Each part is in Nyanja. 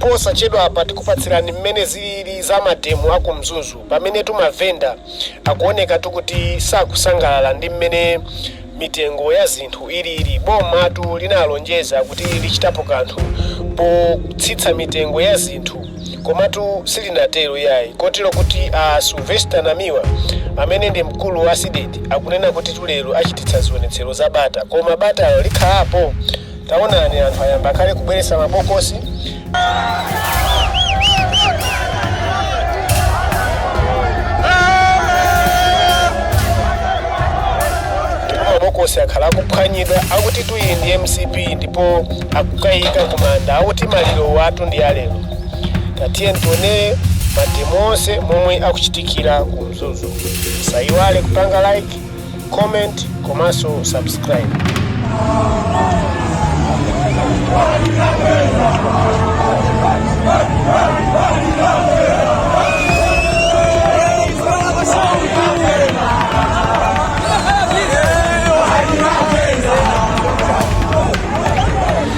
Posachedwapa tikupatsirani mmene zilili za mademo aku Mzuzu pamenetu mavenda akuonekatu kuti sakusangalala ndi mmene mitengo ya zinthu ilili. Bomatu linalonjeza kuti lichitapo kanthu potsitsa mitengo ya zinthu komatu silinatero iyayi kotero kuti a Sylvester Namiwa amene ndi mkulu wa Cdedi akunena kutitu lero achititsa zionetsero za bata. Koma batalo likhalapo? Taonani anthu ayamba kale kubweretsa mabokosi. Ndipo mabokosi akhala akuphwanyidwa akutitu iyi ndi MCP ndipo akukaika kumanda akuti malirowotu ndi alero tatiyeni tionere mademo onse momwe akuchitikira ku Mzuzu musayiwale kupanga like comment komanso subscribe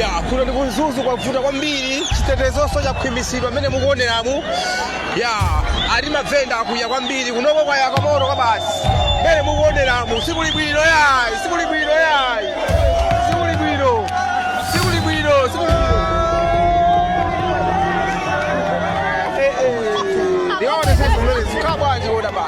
ya kuno ndi ku Mzuzu kwavuta kwambiri chitetezonso chakhwimitsidwa mmene mukuoneramu ya ati mavenda akwiya kwambiri kunoko kwaya kamoto kobasi mmene mukuoneramu sikuli bwino yayi sikuli bwino yayi sikuli bwino sikuli bwino sikuli bwino Eh, eh. Ndione sasa mbele, zikaa bwanji woda basi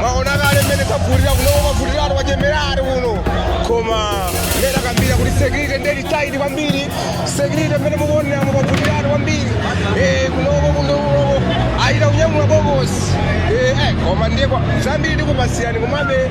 mwaona kale mmene kwavutira kuno kwavutiratu kwachemeratu kuno koma mmene akambira kuti security ndiye ili tight kwambiri security mmene mukuoneramu kwavutiratu kwambiri Eh, kunoko kunoko ayita kunyamula bokosi Eh, eh, koma ndiye kwa- zambiri ndikupasiyani komabe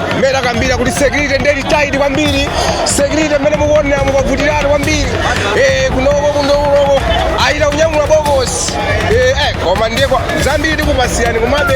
mmene akambira kuti security ndiye ili tight kwambiri security mmene mukuoneramu kwavutiratu kwambiri eh, kunoko kunoko ayita kunyamula bokosi eh, eh, koma ndiye kwa- zambiri tikupasilani komabe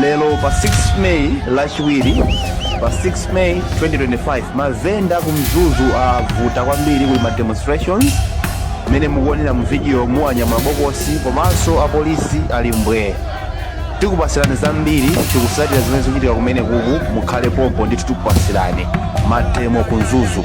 lero pa 6 May lachiwiri pa 6 May 2025 mavenda ku Mzuzu avuta kwambiri kuli ma demonstrations mmene mukuonera mu video mu anyamula bokosi komanso apolisi ali mbwee tikupasirani zambiri tikutsatira zimene zikuchitika kumene kuku mukhale pompo ndithu tikupasirani mademo ku Mzuzu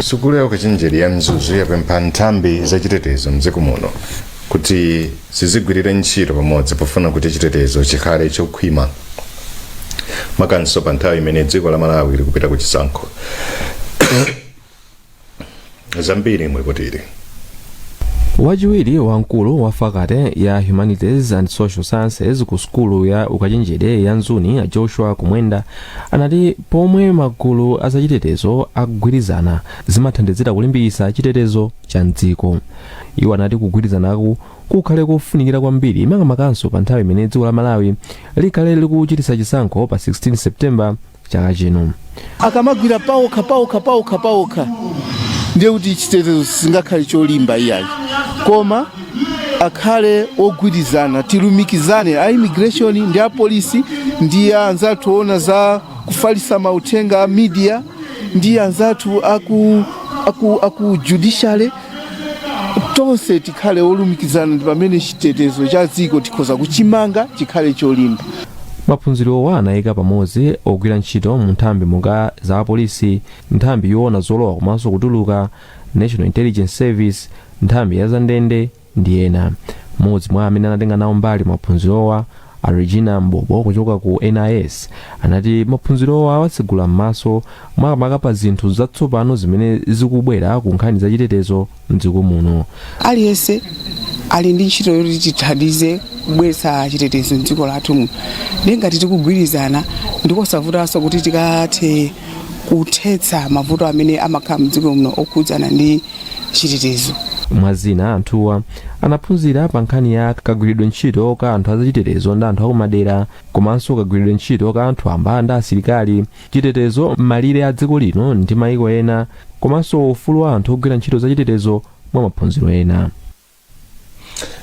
sukulu ya ukachenjede ya mzuzu yapempha nthambi zachitetezo mdziko muno kuti zizigwirire ntchito pamodzi pofuna kuti chitetezo chikhale chokhwima makamaka pa nthawi imene dziko la malawi likupita ku chisankho zambiri muli lipotili wachiwiri wamkulu wa fakate ya humanities and social sciences ku sukulu ya ukachenjede ya mzuni a joshua kumwenda anati pomwe magulu azachitetezo agwirizane zimathandizira kulimbikitsa chitetezo cha mdziko Iwo anati kugwirizanaku kukhale kofunikira kwambiri makamakanso pa nthawi imene dziko la Malawi likhale likuchititsa chisankho pa 16 September chaka chino. akamagwira paokha paokha paokha paokha ndiye kuti chitetezo sichingakhale cholimba iyayi koma akhale ogwirizana tilumikizane a immigration ndi a polisi ndi anzathu oona za kufalisa mauthenga a media ndi anzathu aku, aku, aku judiciary tonse tikhale olumikizana ndi pamene chitetezo cha dziko tikhoza kuchimanga chikhale cholimba maphunzirowa anayika pamodzi ogwira ntchito mu nthambi monga za apolisi nthambi yoona zolowa komanso kutuluka national intelligence service nthambi ya zandende ndi ena mmodzi mwa amene anatenga nawo mbali maphunzirowa A Regina M'bobo kuchoka ku NIS anati maphunzirowa awatsegula m'maso makamaka pa zinthu zatsopano zimene zikubwera ku nkhani za chitetezo m'dziko muno. Aliyense ali ndi ntchito yoti tithandize kubweretsa chitetezo m'dziko lathu muno. Ndiye ngati tikugwirizana ndikosavutanso kuti tikathe kuthetsa mavuto amene amakhala m'dziko muno okhudzana ndi chitetezo. Mwa zina anthuwa Anaphunzira pa nkhani ya kagwiridwe ntchito ka anthu azachitetezo ndi anthu akumadera komanso kagwiridwe ntchito ka anthu wamba ndi asilikali, chitetezo m'malire a dziko lino ndi mayiko ena komanso ufulu wa anthu ogwira ntchito zachitetezo mwa maphunziro ena.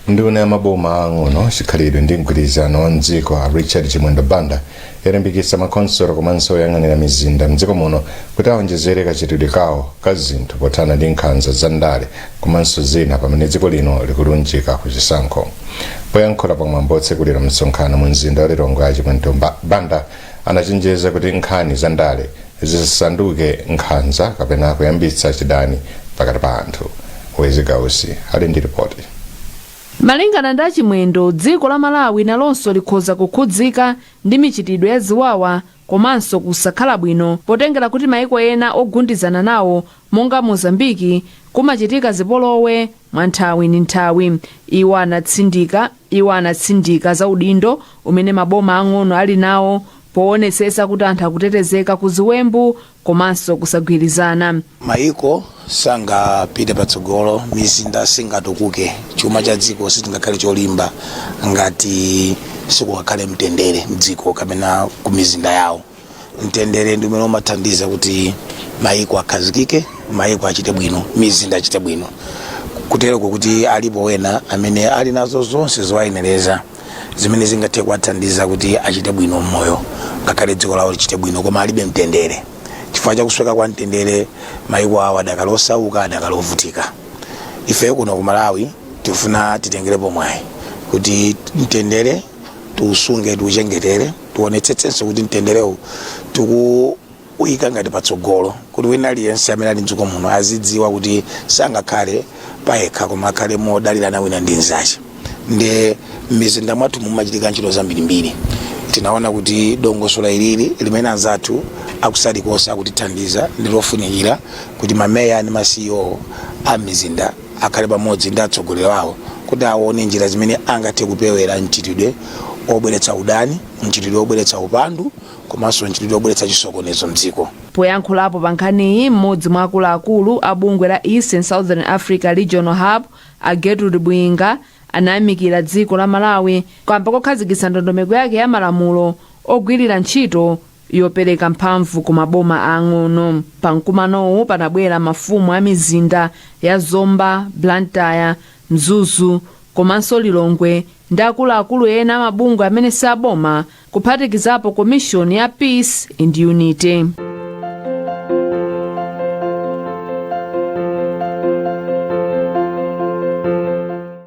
nduna ya maboma aang'ono chikhalidwe ndi mgwirizano wa mdziko a richard chimwendo banda yalimbikitsa makhonsolo komanso oyang'anira mizinda m'dziko muno kuti awonjezere kachitidwe kawo ka zinthu pothana ndi nkhanza za ndale komanso zina pamene dziko lino likulunjika ku chisankho. Poyankhula pa mwambo wotsekulira msonkhano mu mzinda wa Lilongwe, a Chimwendo Banda anachenjeza kuti nkhani za ndale zisasanduke nkhanza kapena kuyambitsa chidani pakati pa anthu. Wezi Gausi ali ndi ripoti. Malingana ndi a Chimwendo, dziko la Malawi nalonso likhoza kukhudzika ndi michitidwe ya ziwawa komanso kusakhala bwino potengera kuti maiko ena ogundizana nawo monga Mozambique kumachitika zipolowe mwa nthawi ndi nthawi. Iwo anatsindika za udindo umene maboma ang'ono ali nawo powonetsetsa kuti anthu akutetezeka ku ziwembu komanso kusagwirizana. Mayiko sangapite patsogolo, mizinda singatukuke, chuma cha dziko sichingakhale cholimba ngati sikungakhale mtendere m'dziko kapena ku mizinda yawo. Mtendere ndi umene umathandiza kuti mayiko akhazikike, mayiko achite bwino, mizinda achite bwino. Kutereko kuti alipo wena amene ali nazo zonse zoyenereza. zimene zingathe kuwathandiza kuti achite bwino mmoyo ngakhale dziko lawo lichite bwino koma alibe mtendere chifukwa chakusweka kwa mtendere maiko awo adakali osauka adakali ovutika ife kuno ku malawi tikufuna titengerepo mwayi kuti mtendere tiusunge tiuchengetere tionetsetsenso kuti mtenderewu tiku kuyika ngati patsogolo kuti wina aliyense amene ali mdziko muno azidziwa kuti sangakhale payekha koma akhale modalirana wina ndi mzake ndi m'mizinda mwathu mumachitika ntchito zambirimbiri tinaona kuti dongosolo ilili limene anzathu akusali konse akutithandiza ndi lofunikira kuti mameya ndi ma ceo a mizinda akhale pamodzi ndi atsogoleri awo kuti aone njira zimene angathe kupewera mchitidwe obweretsa udani mchitidwe obweretsa upandu komanso mchitidwe obweretsa chisokonezo mdziko. Poyankhulapo pa nkhaniyi mmodzi mwa akuluakulu a bungwe la East and Southern Africa Regional Hub a Gertrude Bwinga anayamikira dziko la Malawi kamba kokhazikitsa ndondomeko yake ya malamulo ogwirira ntchito yopereka mphamvu ku maboma aang'ono. Pa mkumanowu panabwera mafumu a mizinda ya Zomba, Blantyre, Mzuzu komanso Lilongwe ndi akuluakulu ena a mabungwe amene si aboma kuphatikizapo komishoni ya Peace and Unity.